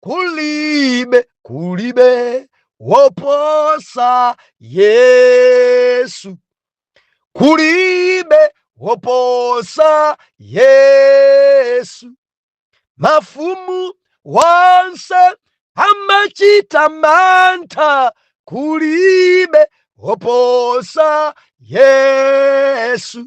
kulibe kulibe woposa yesu kulibe woposa yesu mafumu wonse amachita mantha kulibe woposa yesu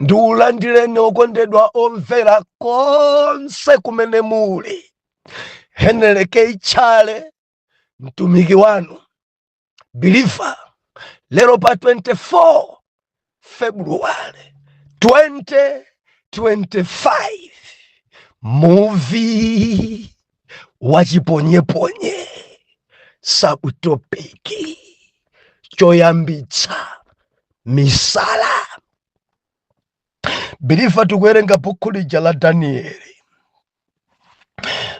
ndiulandireni okondedwa omvera konse kumene muli henry k chale mtumiki wanu biliva lero pa 24 februwale 2025 muvi wachiponyeponye sakutopiki choyambitsa misala biliva tikuwerenga bukhu lija la danieli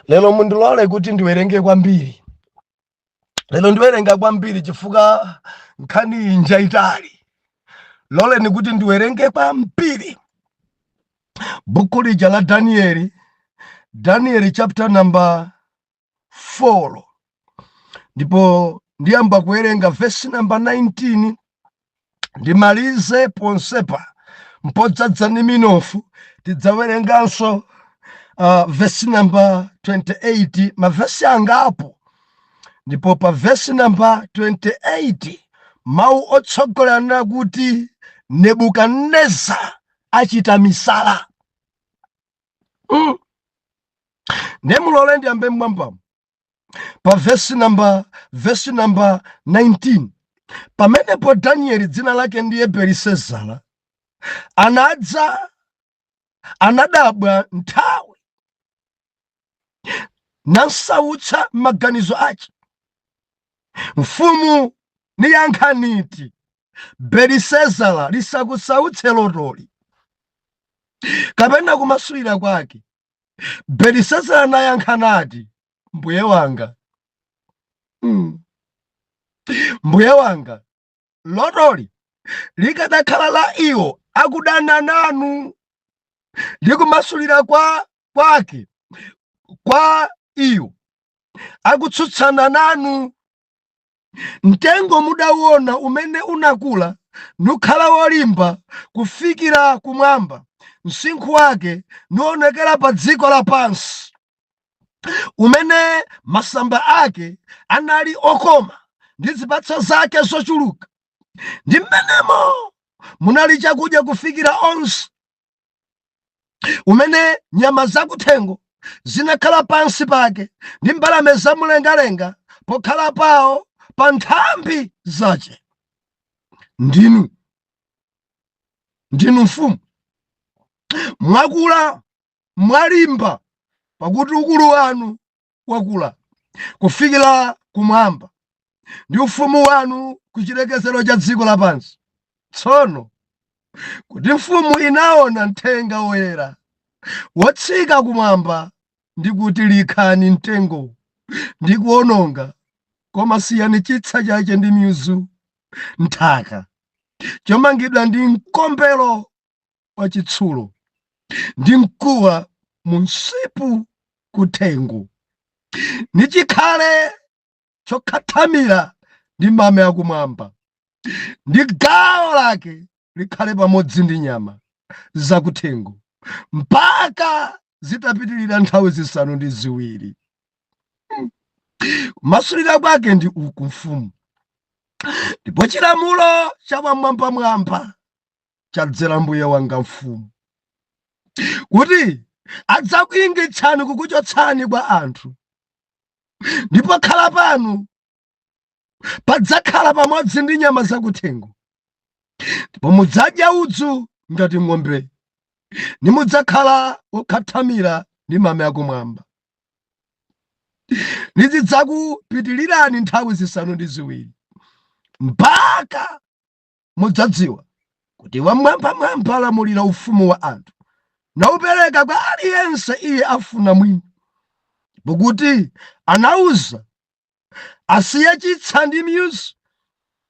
lero mundilole kuti ndiwerenge kwambiri lero ndiwerenga kwambiri chifukwa nkhani iyi njaitali loleni kuti ndiwerenge kwambiri buku lija la danieli danieli chapter number 4 ndipo ndiyamba kuwerenga vesi number 19 ndimalize ponsepa n'podzadza ndi minofu tidzawerenganso uh, vesi namba 28 mavesi angapo ndipo pa vesi namba 28 mawu otsogolera akunena kuti nebukadineza achita misala mm. nde mulole ndiyambe m'mwambamo pa vesi namba vesi namba 19 pamenepo danieli dzina lake ndiye belisezara anadza anadabwa nthawi namsautsa maganizo ace mfumu niyankha niti belisezara lisakusautse lotoli kapena kumasulira kwake belisezara anayankha nati mbuye wanga mm. mbuye wanga lotoli likadakhala la iwo akudana nanu ndi kumasulira kwake kwa iwo akutsutsana nanu Mtengo mudauona umene unakula nukhala wolimba kufikira kumwamba, msinkhu wake nuonekera pa dziko lapansi, umene masamba ake anali okoma, ndi zipatso zake zochuluka, ndi m'menemo munali chakudya kufikira onse. umene nyama zakuthengo zinakhala pansi pake ndi mbalame zamumlengalenga pokhala pawo pa nthambi zace ndinu ndinu mfumu mwakula mwalimba pakuti ukulu wanu wakula kufikira kumwamba, ndi ufumu wanu ku chilekezero cha dziko lapansi. Tsono kuti mfumu inaona mthenga woyera wotsika kumwamba ndi kuti likhani mtengo ndi kuononga, koma siyani chitsa chache ndi mizu nthaka, chomangidwa ndi mkombero wa chitsulo ndi mkuwa mu msipu kuthengo nichikhale chokhathamira ndi mame akumwamba ndi gawo lake likhale pamodzi ndi nyama zakuthengo mpaka zitapitirira nthawi zisanu ndi ziwiri kumasulira kwake ndi uku mfumu ndipo chilamulo cha Wam'mwambamwamba chadzera mbuye wanga mfumu kuti adzakuyingitsani kukuchotsani kwa anthu ndi pokhala panu padzakhala pamodzi ndi nyama zakuthengo ndipo mudzadya udzu ngati ng'ombe nimudzakhala wokhathamira ndi mame akumwamba nizidzakupitilirani nthawi zisanu ndi ziwiri mpaka mudzadziwa kuti Wam'mwambamwamba alamulira ufumu wa anthu, naupereka kwa aliyense iye afuna mwini, ndipo kuti anauza asiye chitsa ndi mizu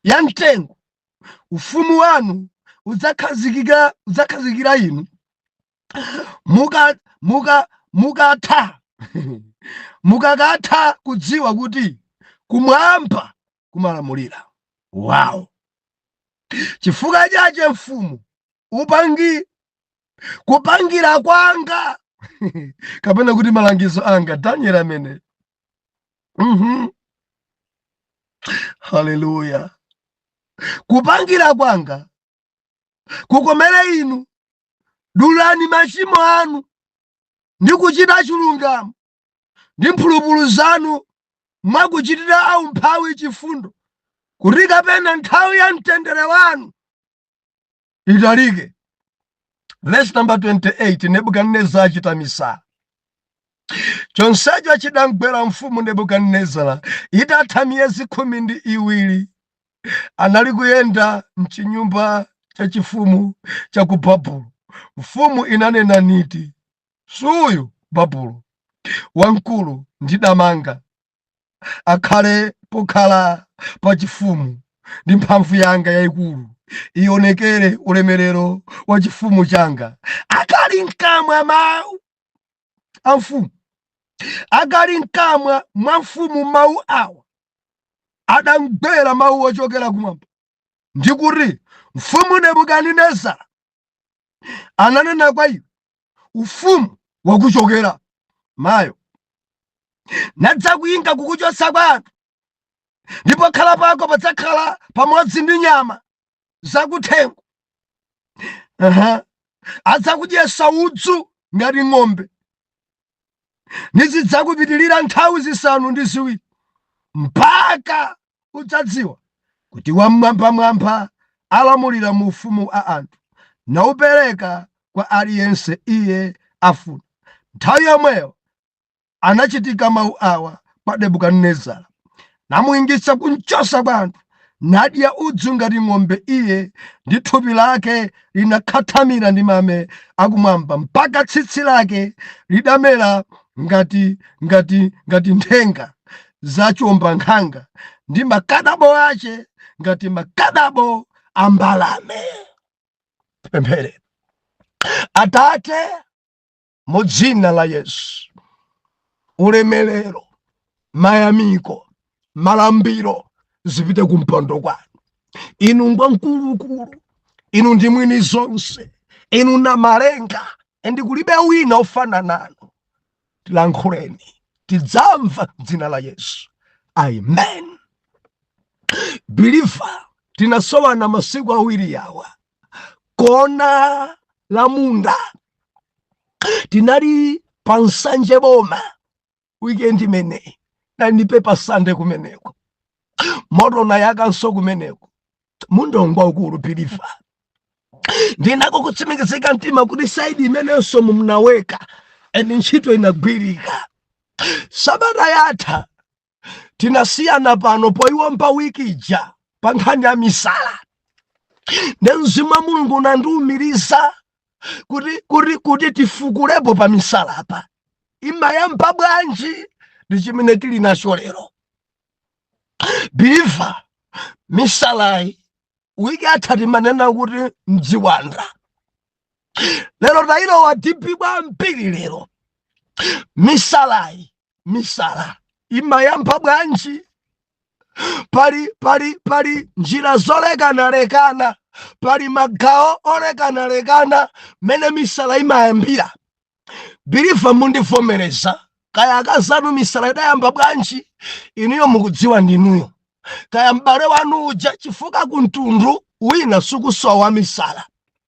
ya mtengo, ufumu wanu udzakhazikira inu mukakatha kudziwa kuti kumwamba kumalamulira wow chifukwa chache mfumu upangi kupangira kwanga kapena kuti malangizo anga daniel amene mm -hmm. haleluya kupangira kwanga kukomere inu dulani machimo anu ndi kuchita chilungamo ndi mphulupulu zanu mwa kuchitira aumphawi chifundo kuti kapena nthawi ya mtendere wanu italike verse number 28 nebukadinezara achita misala chonsecho chidamgwera mfumu nebukadinezara itatha miyezi khumi ndi iwiri anali kuyenda mchinyumba chachifumu cha ku babulo mfumu inanena niti Suyu Babulo wamkulu ndidamanga, akhale pokhala pachifumu, ndi mphamvu yanga yaikulu ionekere ulemerero wa chifumu changa. Akali mkamwa mawu a mfumu, akali mkamwa mwa mfumu mawu awa, adamgwera mawu ochokera kumwamba ndikuti, Mfumu Nebukadinezara ananena kwa iwe, ufumu wakuchokera mayo nadzakuinga kukuchotsa kwa anthu ndi pokhala pako padzakhala pamodzi ndi nyama zakuthengo uh -huh. adzakudyetsa udzu ngati ng'ombe nizidzakupitirira nthawi zisanu ndi ziwiri mpaka udzadziwa kuti wamwambamwamba alamulira mu ufumu wa anthu naupereka kwa aliyense iye afuna nthawi yomweyo anachitika mawu awa kwa nebukadinezara namuingitsa kumchotsa kwa anthu, nadya udzu ngati ng'ombe iye, ndi thupi lake linakhathamira ndi mame akumwamba, mpaka tsitsi lake lidamera ngati ngati nthenga za chiwombankhanga, ndi makadabo ache ngati makadabo a mbalame. Tipemphere. Atate, mu dzina la Yesu. Ulemerero, mayamiko, malambiro zipite ku mpando kwanu. Inu ngwamkulukulu, inu ndi mwini zonse, inu Namalenga and kulibe wina ofana nanu. Tilankhuleni, tidzamva dzina la Yesu. Amen. Believer, tinasowana masiku awiri yawa kona la munda tinali pa Nsanje boma weekend imeneyi nandipe pa sande kumeneko moto nayakanso kumeneko mundongwa ukulu believer ndinako kutsimikizika mtima kuti saidi imeneyonso mumnaweka and ntchito inagwirika sabata yatha tinasiyana pano poyiwomba wiki ija pa nkhani ya misala nde mzimu wa mulungu unandiumiriza kuti kuti kuti tifukulepo pa misala apa imayamba bwanji ndi chimene tili nacho lero biliva misalayi wiki yatha timanena kuti mdziwanda lero tayilowa dipi kwambiri lero misalayi misala imayamba bwanji pali pali pali njira zolekanalekana pali magawo olekanalekana mmene misala imayambira biliva mundivomereza kaya akazanu misala idayamba bwanji inuyo mukudziwa ndinuyo kaya m'bale wanu uja chifukwa kumtundu wina sukusowa misala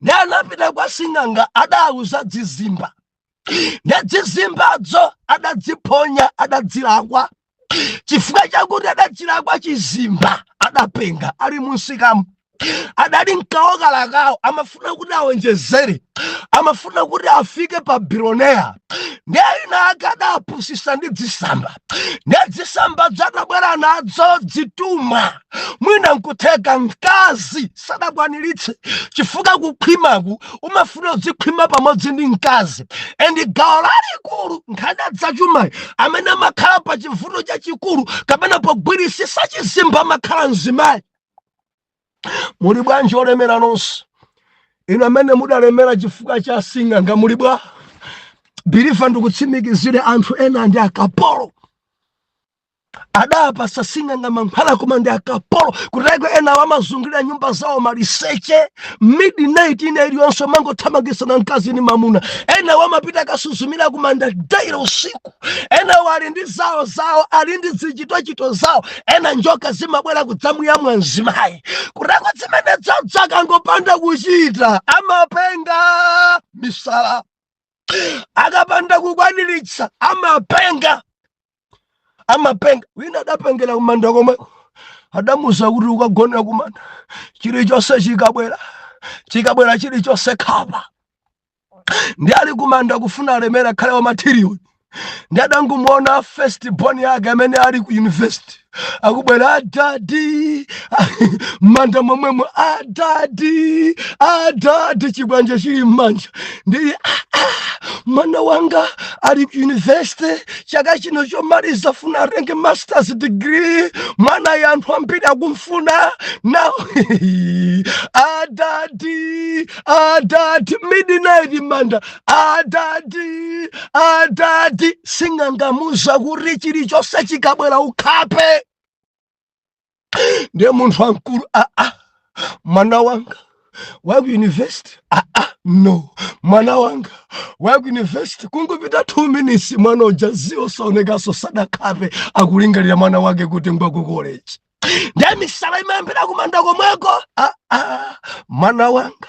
nde anapita kwa sing'anga adawauza dzizimba nde dzizimbadzo adadziphonya adadzilakwa chifukwa chakuti adachilakwa chizimba adapenga ali munsikamu adali mkawokalakawo amafuna kuti awonjezere amafuna kuti afike pa biloneya nde ayina ake adawapusisa ndi dzisamba nde dzizimba dzadabwera nadzo dzituma mwina nkutheka mkazi sadakwaniritse chifukwa kukhwimaku umafuna udzikhwima pamodzi ndi mkazi endi gawo lalikulu nkhani ya dzachumayi amene amakhala pa chivuto chachikulu kapena pogwirisisa chizimba amakhala mzimayi muli bwanji olemera nonse inu amene mudalemera chifukwa cha sing'anga muli bwa biliva ndikutsimikizire anthu ena ndi akapolo adawapatsa asing'anga mankhwala koma ndi akapolo kuteko enawo amazungulira nyumba zawo maliseche midnight ina iliyonse amangothamangitsana mkazi ni mamuna enawo amapita akasuzumira kumanda daily usiku enawo ali ndi zawo zawo ali ndi zichitochito zawo ena njoka zimabwera kudzamuyamwa mzimayi kuteko zimene dzadza akangopanda kuchita amapenga misala akapanda kukwaniritsa amapenga amapenga wina adapengera kumanda komweko adamuuza kuti ukagone kumanda chilichonse chikabwera chikabwera chilichonse khapa nde ali kumanda kufuna alemera akhale wa matiriyoni nde adangomuona first born yake amene ali ku university akubwera adadi mmanda momwemo adadi adadi chikwanje chili mmanja ndili ah, ah, mwana wanga ali ku university chaka chino chomaliza funa atenge masters degree mwanayo anthu ambiri akumfuna now adadi adadi midnight manda adadi adadi sing'anga wamuuza kuti chilichonse chikabwera ukhape ndiye munthu wamkulu aa ah, ah, mwana wanga wa ku university aa ah, no mwana wanga wa ku university kungopita two minutes mwana uja zi osaonekanso sadakhape, akulingalira mwana wake kuti ngwa ku college ndiye misala imayambira kumanda komweko aa mwana wanga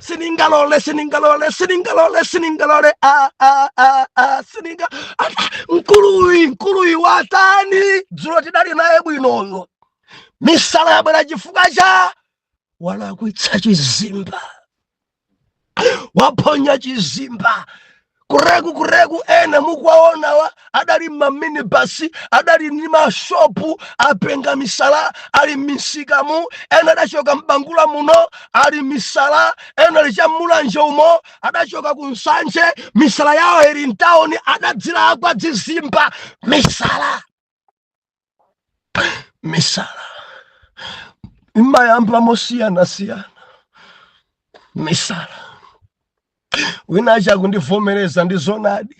siningalole siningalole siningalole siningalole ah, ah, ah, ah, sininga ah, mkuluyu mkuluyu watani dzulo tidali naye bwinoyo misala yabwera chifukwa cha walakwitsa chizimba waphonya chizimba kureku kureku ena mukuwaonawa adali m'maminibasi adali ndi mashopu apenga misala ali m'misikamu ena adachoka m'bangula muno ali misala ena ali cha mulanje umo adachoka ku nsanje misala yawo ili m'tawuni adadzilakwa dzizimba misala misala imayamba mosiyanasiyana misala wina acha kundivomereza ndi zonadi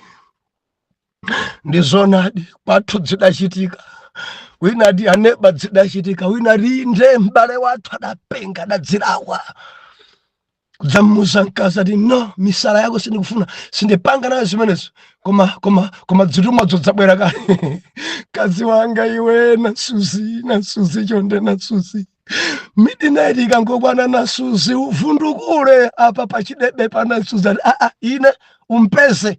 ndi zonadi kwathu dzidachitika wina ati aneba dzidachitika wina ati inde m'bale wathu adapenga adadzilakwa kudzamuuza mkazi ati no misala yako sindikufuna sindipanga nawo zimenezo koma koma koma dzitumwa dzodzabwera kale mkazi wanga iwe nasuzi nasuzi chonde nasuzi midnight ikangokwana nasuzi uvundukule apa pachidebe pa nasuzi ati aa ine umpeze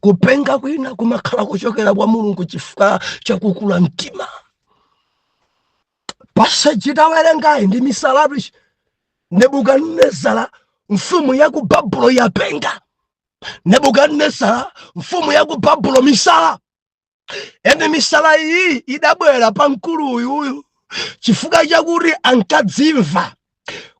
kupenga kwina kumakhala kochokera kwa mulungu chifukwa chakukula mtima passage tawerengayi ndi misalatu nebukadinezara mfumu ya ku babulo yapenga nebukadinezara mfumu ya ku babulo misala ende misala iyi idabwera pa mkulu uyu chifukwa chakuti ankadzimva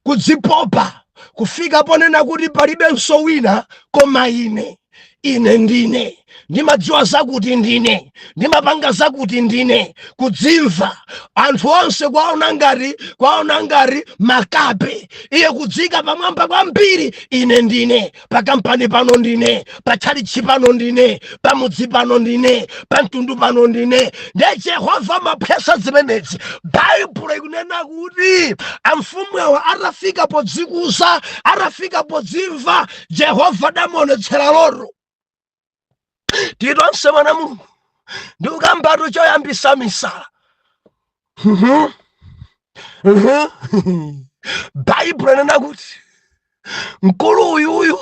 kudzipopa kufika ponena kuti palibenso wina koma ine ine ndine ndimadziwa zakuti ndine ndimapanga zakuti ndine kudzimva anthu onse kuwaona ngati kuwaona ngati makape iye kudziika pamwamba kwambiri ine ndine pakampani pano ndine patchalitchi pano ndine pamudzi pano ndine pamtundu pano ndine nde jehova amaphwesa zimenezi baibulo ikunena kuti amfumu awo atafika podzikuza atafika podzimva jehova adamuonetsera loto tili tonse wana a mulungu ndikukambatu choyambisa misala baibulo inena kuti mkulu uyuyu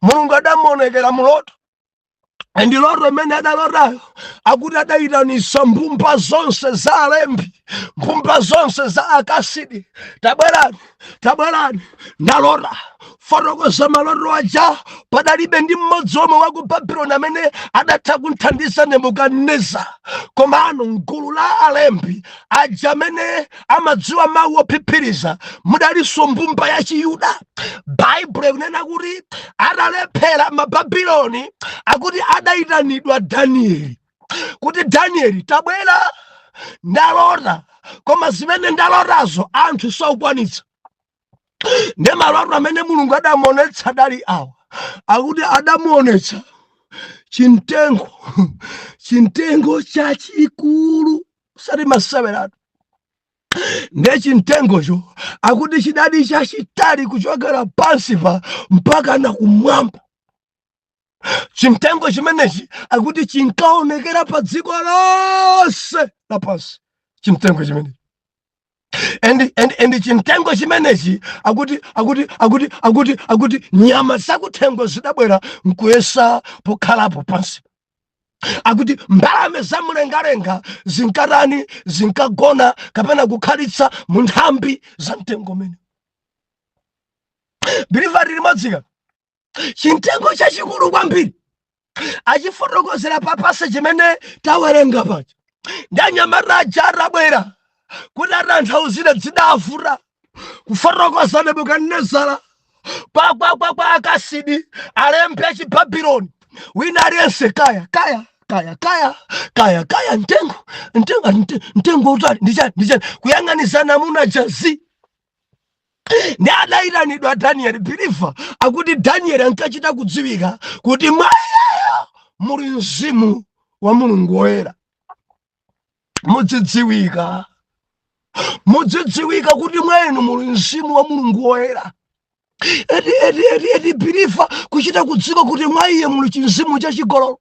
mulungu adamuonekera muloto ndi loto imene adalotayo akuti adayitanisa mbumba zonse za alembi mbumba zonse za akasidi tabwerani tabwerani ndalota fotokoza maloto aja padalibe ndi mmodzi omwe wa ku babiloni amene adatha kunthandiza nebukadineza komano mgulu la alembi aja amene amadziwa mawu ophiphiriza mudalinso mbumba ya chiyuda baibulo ikunena kuti atalephera mababiloni akuti adayitanidwa danieli kuti danieli tabwera ndalota koma zimene ndalotazo anthu sakukwanitsa ndi maloto amene mulungu adamuonetsa adali awa akuti adamuonetsa chintengo chintengo chachikulu osati maseweratu nde chintengocho akuti chidali chachitali kuchokera pansipa mpakana kumwamba chimtengo chimenechi akuti chinkaonekera pa dziko lonse lapansi chimtengo chimenechi and and and chimtengo chimenechi akuti akuti akuti akuti akuti nyama zakuthengo zidabwera nkuyesa pokhalapo pansi akuti mbalame za mlengalenga zinkatani zinkagona kapena kukhalitsa mu nthambi za mtengo umene believer tili chimtengo chachikulu kwambiri achifotokozera pa passage imene tawerenga paja ndi anyamata aja atabwera kuti atanthauzire zidavuta kufotokoza nebukadinezara kwakwakwa akasidi alembi achibabiloni wina aliyense kaya kaya kaya kaya kaya kaya mtengo mtengo mtengo utali ndichani ndichani kuyang'anizana muna jazi ndi adayitanidwa danieli believer akuti danieli ankachita kudziwika kuti mwa iyeyo muli mzimu wa mulungu woyera mudzidziwika mudzidziwika kuti mwa inu muli mzimu wa mulungu woyera eti eti eti eti believer kuchita kudziwika kuti mwa iye muli chimzimu chachigololo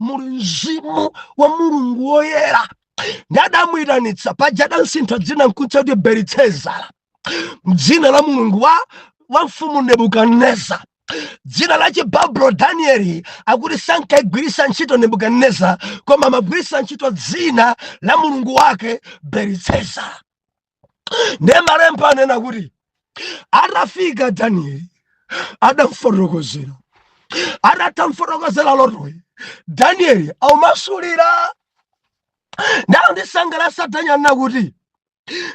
muli mzimu wa mulungu woyera ndi adamuyitanitsa paja adansintha dzina nkumutcha kuti belitsezara dzina la mulungu wa wa mfumu nebukadinezara dzina la chibabulo danieli akuti sankagwiritsa ntchito nebukadinezara koma amagwiritsa ntchito dzina la mulungu wake belitsezara ndiye malemba anena kuti atafika danieli adamfotokozera atamfotokozera lotoyi danieli aumasulira ndalo ndisangalatsa danieli nakuti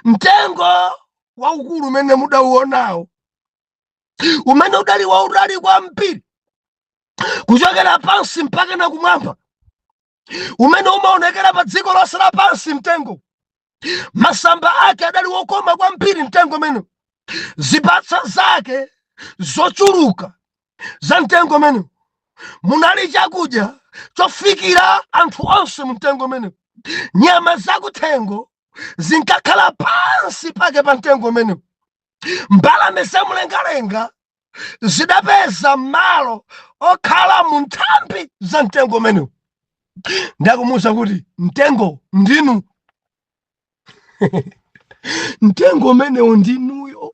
mtengo waukulu umene mudauonawo umene udali wautali kwambiri kuchokera pansi mpaka na kumwamba umene umaonekera pa dziko lonse lapansi mtengo masamba ake adali wokoma kwambiri mtengo umenewu zipatso zake zochuluka za mtengo umenewu munali chakudya chofikira anthu onse mu mtengo umenewu nyama zakuthengo zinkakhala pansi pake pa mtengo umenewu mbalame za mlengalenga zidapeza malo okhala mu nthambi za mtengo umenewu ndi akumuwuza kuti mtengo ndinu mtengo umenewu ndinuyo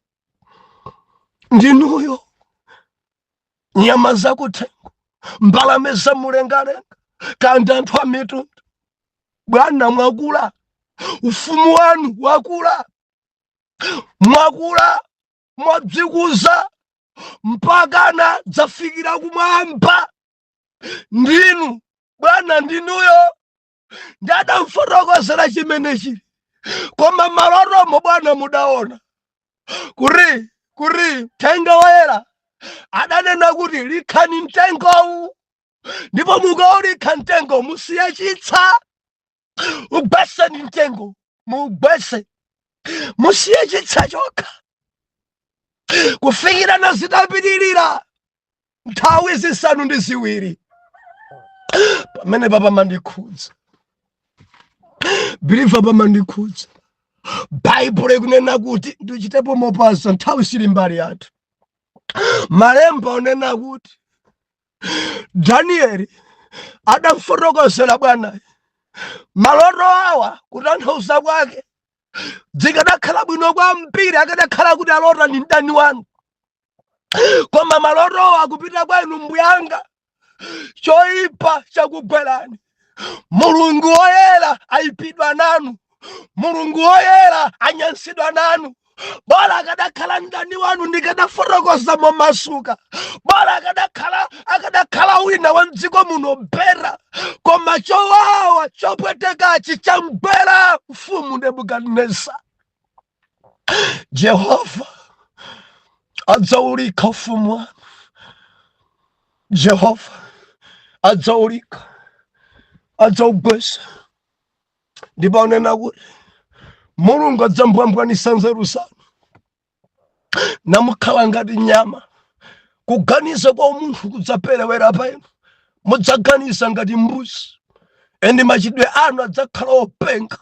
ndinuyo nyama zakuthengo mbalame za mlengalenga kandi anthu a mitundu bwana mwakula ufumu wanu wakula mwakula mwadzikuza mpakana dzafikira kumwamba ndinu bwana ndinuyo ndi adamfotokozera chimenechi koma malotomo bwana mudaona kuti kuti mthenga woyera adanena kuti likhani mtengowu ndipo mukaulikha mtengo musiye chitsa ugwetseni mtengo muugwetse musiye chitsa chokha kufikira na zitapitirira nthawi zisanu ndi ziwiri pamene papamandikhudza believer pamandikhudza baibulo ikunena kuti ndichitepo mopasa nthawi sili mbali yathu malemba anena kuti Danieli adamfotokozera bwanayo maloto awa kutanthauza kwake zikadakhala bwino kwambiri akadakhala kuti alota ndi mdani wanu koma malotowa akupita kwa inu mbuyanga choipa chakugwerani mulungu woyera ayipidwa nanu mulungu woyera anyansidwa nanu bora akadakhala mdani wanu ndikadafotokoza momasuka bora akadakhala akadakhala wina wa mdziko muno bera koma chowawa chopwetekachi chagwera mfumu nebukadinezara Jehova adzaulikha ufumu wanu. Jehova adzaulikha, adzaugwesa ndipo anena kuti Mulungu adzambwambwanisa nzeru zanu namukhala ngati nyama kuganiza kwa umunthu kudzaperewera pa inu mudzaganiza ngati mbuzi and machitidwe anu adzakhala openga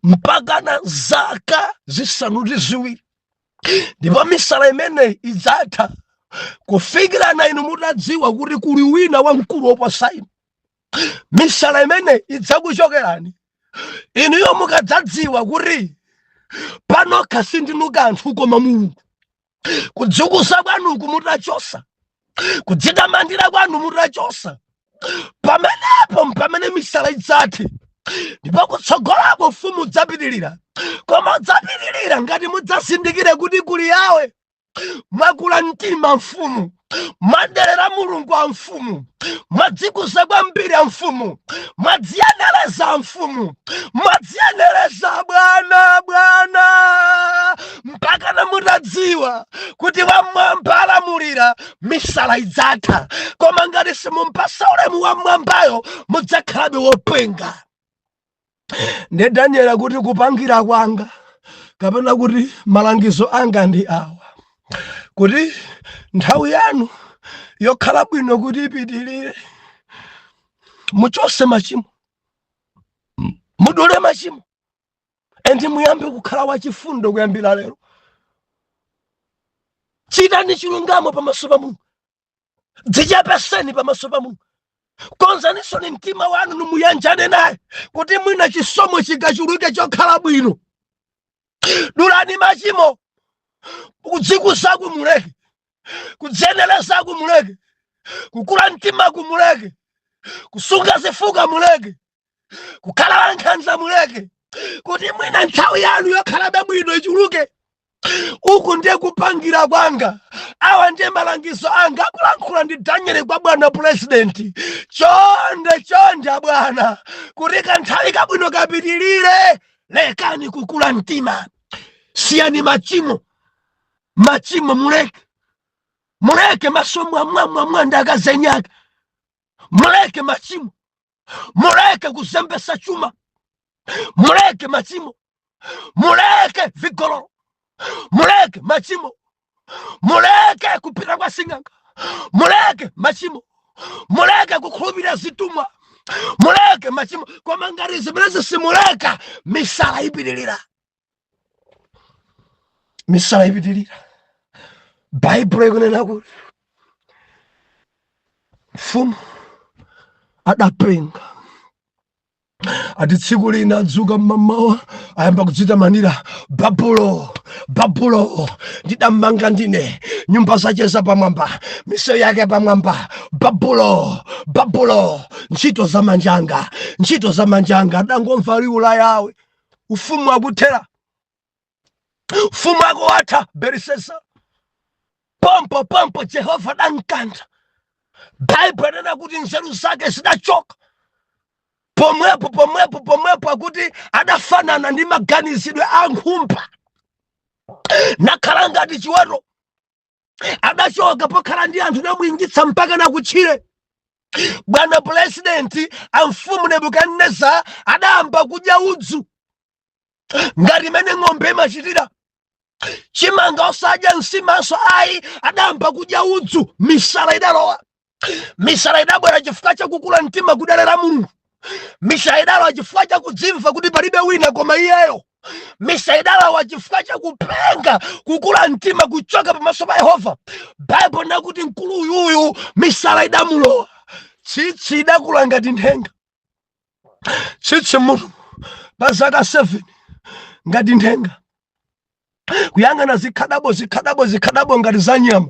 mpakana zaka zisanu ndi ziwiri ndipo misala imeneyi idzatha kufikirana inu mutadziwa kuti kuli wina wamkulu woposa inu misala imeneyi idzakuchokerani inuyo mukadzadziwa kuti panokha sindinu kanthu koma mulungu kudzikuza kwanuku mutachosa kudzitamandira kwanu mutachosa pamenepo mpamene misala idzathe ndipo kutsogolako ufumu udzapitirira koma udzapitirira ngati mudzazindikire kuti kuli yawe mwakula mtima mfumu mwaderera mulungu a mfumu mwadzikuza kwambiri a mfumu mwadziyenereza a mfumu mwadziyenereza bwana bwana mpakana mutadziwa kuti wamwamba alamulira misala idzatha koma ngati simumpasa ulemu wamwambayo mudzakhalabe wopenga nde daniel akuti kupangira kwanga kapena kuti malangizo anga ndi awa kuti nthawi yanu yokhala bwino kuti ipitirire muchose machimo mudule machimo endi muyambe kukhala wachifundo kuyambira lero chitani chilungamo pamaso pa mulungu dzichepeseni pamaso pa mulungu konzanisoni mtima wanu nimuyanjane naye kuti mwina chisomo chikachuluke chokhala bwino dulani machimo kudzikuzaku muleke kudziyenerezaku muleke kukula mtimaku muleke kusunga zifukwa muleke kukhala wankhanza muleke kuti mwina nthawi yanu yokhalabe bwino ichuluke uku ndiye kupangira kwanga awa ndiye malangizo anga akulankhula ndi danieli kwa bwana purezidenti chonde chonde abwana kuti kanthawi kabwino kapitirire lekani kukula mtima siyani machimo machimo muleke muleke maso mwamwamwamba ndi akazi enaake muleke machimo muleke kuzembesa chuma muleke machimo muleke vigololo muleke machimo muleke kupita kwa sing'anga muleke machimo muleke kukhulupirira zitumwa muleke machimo koma ngati zimene zisimuleka misala ipitirira misala ipitirira baibulo ikunena kuti mfumu adapenga ati tsiku lina adzuka mmamawa ayamba kudzitamanira babulo babulo ndidamanga ndine nyumba zace zapamwamba misewu yake pamwamba babulo babulo ntchito za manjanga ntchito za manjanga adangomva liwu la yawe ufumu wakuthera ufumu wako watha Belisasa pompo pompo jehova adamkantha baibulo adanena kuti nzeru zake zidachoka pomwepo pomwepo pomwepo akuti adafanana ndi maganizidwe a nkhumba nakhala ngati chiweto adachoka pokhala ndi anthu adamuingitsa mpaka na kutchire bwana pulezidenti amfumu nebukadineza adayamba kudya udzu ngati imene ng'ombe imachitira chimanga osadya nsimanso ayi adayamba kudya udzu misala idalowa misala idabwera chifukwa chakukula mtima kuderera mulungu misala idalowa chifukwa chakudzimva kuti palibe wina koma iyeyo misala idalowa chifukwa chakupenga kukula mtima kuchoka pamaso pa yehova baibulo ikuti mkulu uyuyu misala idamulowa tsitsi lidakula ngati nthenga tsitsi mutu pa zaka 7 ngati nthenga kuyang'ana zikhadabo zikhadabo zikhadabo ngati za nyama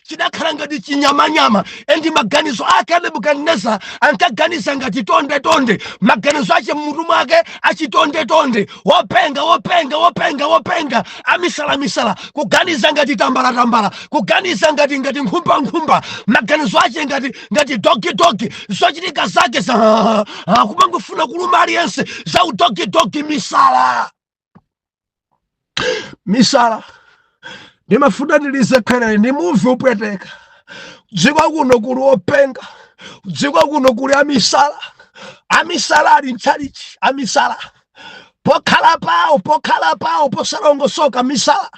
chidakhala ngati chinyamanyama ndi maganizo ake a nebukadineza ankaganiza ngati tonde tonde maganizo ache mmutu mwake achitonde tonde wopenga wopenga wopenga wopenga amisala misala kuganiza ngati tambala tambala kuganiza ngati ngati nkhumba nkhumba maganizo ache ngati ngati dogi dogi zochitika zake za ah, ah, kumangofuna kuluma aliyense za udogi dogi misala misala ndimafuna ndilisekherere ndimve kupweteka dziko kuno kuli openga dziko kuno kuli amisala amisala ali mtchalichi amisala pokhala pawo pokhala pawo posalongosoka misala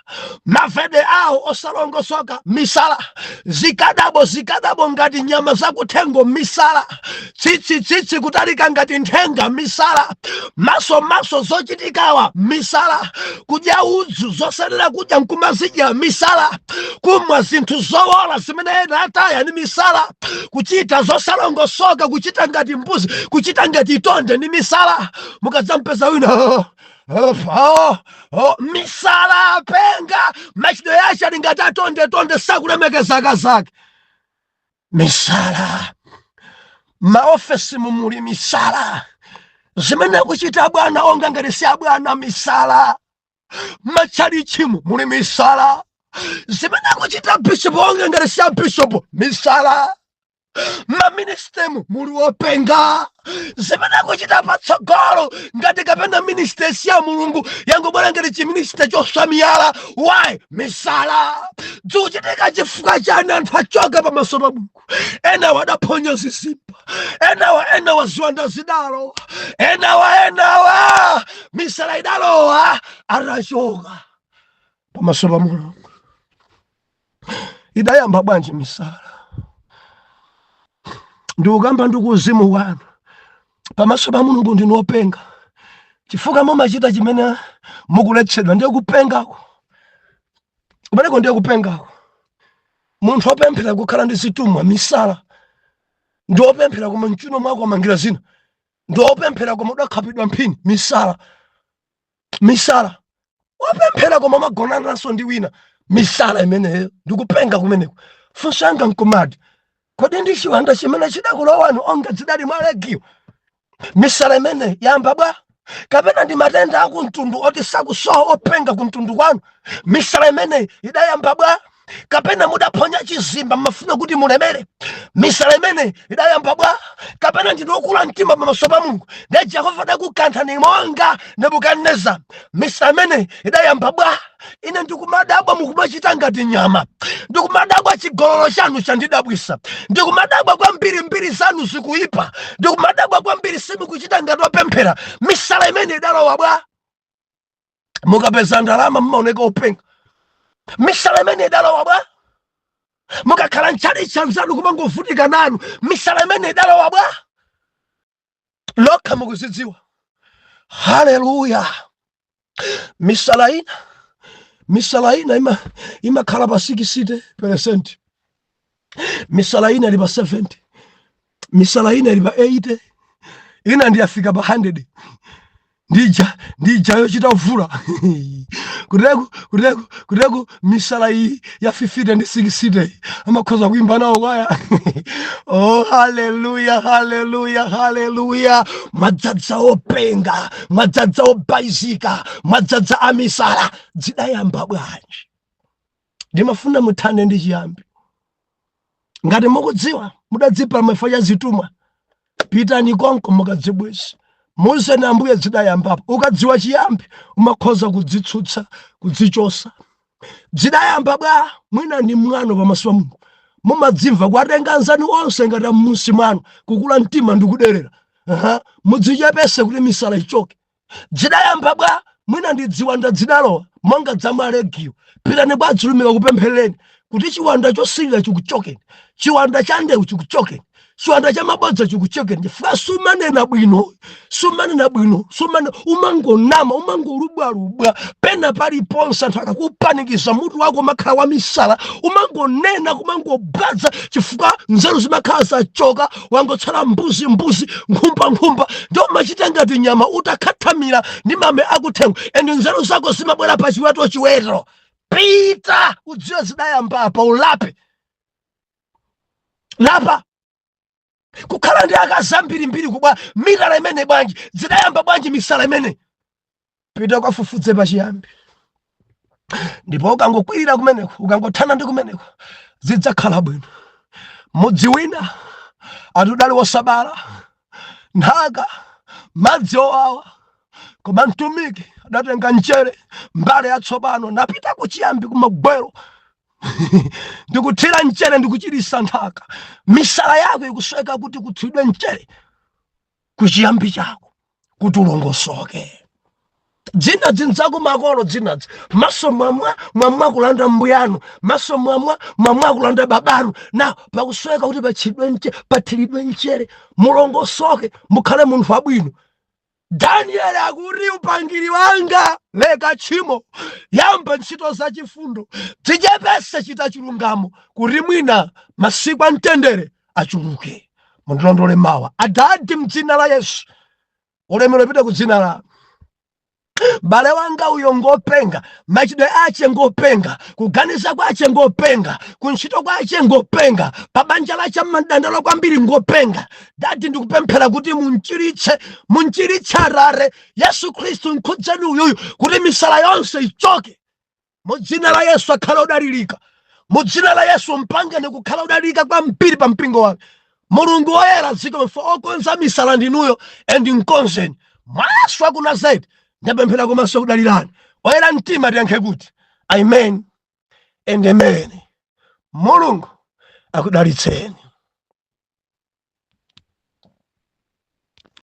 mavalidwe awo osalongosoka misala zikadabo zikadabo ngati nyama zakuthengo misala tsitsi tsitsi kutalika ngati nthenga misala maso maso zochitikawa misala kudya udzu zosayenera kudya nkumazidya misala kumwa zinthu zowola zimene ena ataya ni misala kuchita zosalongosoka kuchita ngati mbuzi kuchita ngati tonde ni misala mukadzampeza wina Oh, misala apenga machitidwe ache ali ngati atonde tonde sakulemekezaka zake misala maofesimu muli misala zimene akuchita abwana onga ngati si abwana misala matchalichimu muli misala zimene akuchita abishopu onga ngati si abishopu misala maministemu muli wopenga zimene akuchita patsogolo ngati kapena ministe si ya mulungu yangobwera ngati chiminista chosamiyala why misala dzikuchitika chifukwa chani anthu achoka pamaso pa mulungu enawa adaphonya zizimba enawa enawa ziwanda zidalowa enawa enawa misala idalowa atachoka pamaso pa mulungu idayamba bwanji misala ndikukamba ndi kuuzimu wanu pamaso pa mulungu ndinu openga chifukwa mumachita chimene mukuletsedwa ndiye kupengako kumeneko ndiye kupengako munthu opemphera kukhala ndi zithumwa misala ndiwe opemphera koma mchuno mwako wamangira zina ndiwe opemphera koma udakhapidwa mphini misala misala wopemphera koma umagonananso ndi wina misala imeneyo ndikupenga kumeneko funso langa nkumati kodi ndi chiwanda chimene chidakulowani onga zidali mwa legiyo misala imeneyi yayamba bwa kapena ndi matenda akumtundu oti sakusowa openga kumtundu kwanu misala imeneyi idayamba bwa kapena mudaphonya chizimba mmafuna kuti mulemere misala imeneyi idayamba bwa kapena ndinu okula mtima pamaso pa mulungu ndiye jehova adakukanthani monga nebukadineza misala imeneyi idayamba bwa ine ndikumadabwa mukumachita ngati nyama ndikumadabwa chigololo chanu chandidabwisa ndikumadabwa kwambiri mbiri zanu zikuyipa ndikumadabwa kwambiri simukuchita ngati wopemphera misala imeneyi idalowa bwa mukapeza ndalama mmaoneka openga misala imeneyi idalowa bwa mukakhala mtchalitchi anzanu kumangovutika nanu misala imeneyi idalowa bwa nokha mukuzidziwa haleluya misala ina misala ina imakhala pa 60 peresenti misala ina ili pa 70 misala ina ili pa 80 ina ndiyafika pa 100 ndija ndija yochita kuvula kuteku kuteku kuteku misala iyi ya 50 ndi 60 amakhoza kuimba nawo kwaya oh haleluya haleluya haleluya mwadzadza openga mwadzadza obaizika mwadzadza amisala zidayamba bwanji ndimafuna muthane ndi chiyambi ngati mukudziwa mudadzipa mafa ya zitumwa pitani konko mukadzibwezi muuzeni ambuye zidayambapo ukadziwa chiyambi umakhoza kudzitsutsa kudzichotsa zidayamba bwa mwina ndi mwano pamaso pa mulungu mumadzimva kuwatenga anzanu onse ngati amunsi mwanu kukula mtima ndikuderera mudzichepese kuti misala ichoke dzidayamba bwa mwina ndi dziwanda dzidalowa monga dza malegiyo pitani bwa dzilumika kupempherereni kuti chiwanda chosirira chikuchokeni chiwanda cha ndewu chikuchokeni chiwanda cha mabodza chikuchokeni chifukwa sumanena bwino sumanena bwino sumane umangonama umangolubwalubwa pena paliponse anthu akakupanikiza mutu wako umakhala wamisala umangonena kumangobwaza chifukwa nzeru zimakhala zachoka wangotsala mbuzi mbuzi nkhumba nkhumba ndiyo umachita ngati nyama utakhathamira ndi mame akuthengo and nzeru zako zimabwera pa chiweto chiweto pita udziwe zidayamba apa ulape lapa kukhala ndi akazi ambirimbiri kubva mitala imene bwanji zidayamba bwanji misala imene pita ukafufudze pachiyambi ndipo ukangokwirira kumeneko ukangothana ndi kumeneko zidzakhala bwino mudzi wina ati udali wosabala nthaka madzi owawa koma mtumiki adatenga mchere mbale yatsopano napita kuchiyambi kumagwero ndikuthira mchere ndikuchirisa nthaka misala yako ikusoweka kuti kuthiridwe mchere kuchiyambi chako kuti ulongosoke dzina dzindzaku makolo dzinadzi maso mwamwa mwamwa kulanda mbuyanu maso mwamwa mwamwa kulanda babanu na pakusoweka kuti patchidwe nche pathiridwe nchere mulongosoke mukhale munthu wabwino danieli akuti upangiri wanga leka tchimo yamba ntchito za chifundo dzichepese chita chilungamo kuti mwina masiku a mtendere achuluke mundilondole mawa adadi mdzina la yesu ulemero upite ku dzina lanu mbale wanga uyo ngopenga machidwe ache ngopenga kuganiza kwache ngopenga kuntchito kwache ngopenga pabanja lache amadandaula kwambiri ngopenga dadi ndikupemphera kuti munchiritse munchiritse atate yesu khristu nkhudzeni uyuyu kuti misala yonse ichoke mu dzina la yesu akhale odalirika mu dzina la yesu mpangeni kukhala odalirika kwambiri pa mpingo wake mulungu woyera zikomo okonza misala ndinuyo and mkonzeni mwa yesu wa ku nazareti ndapemphera komanso kudalirani oyera mtima tiyankhe kuti amen and amen mulungu akudalitseni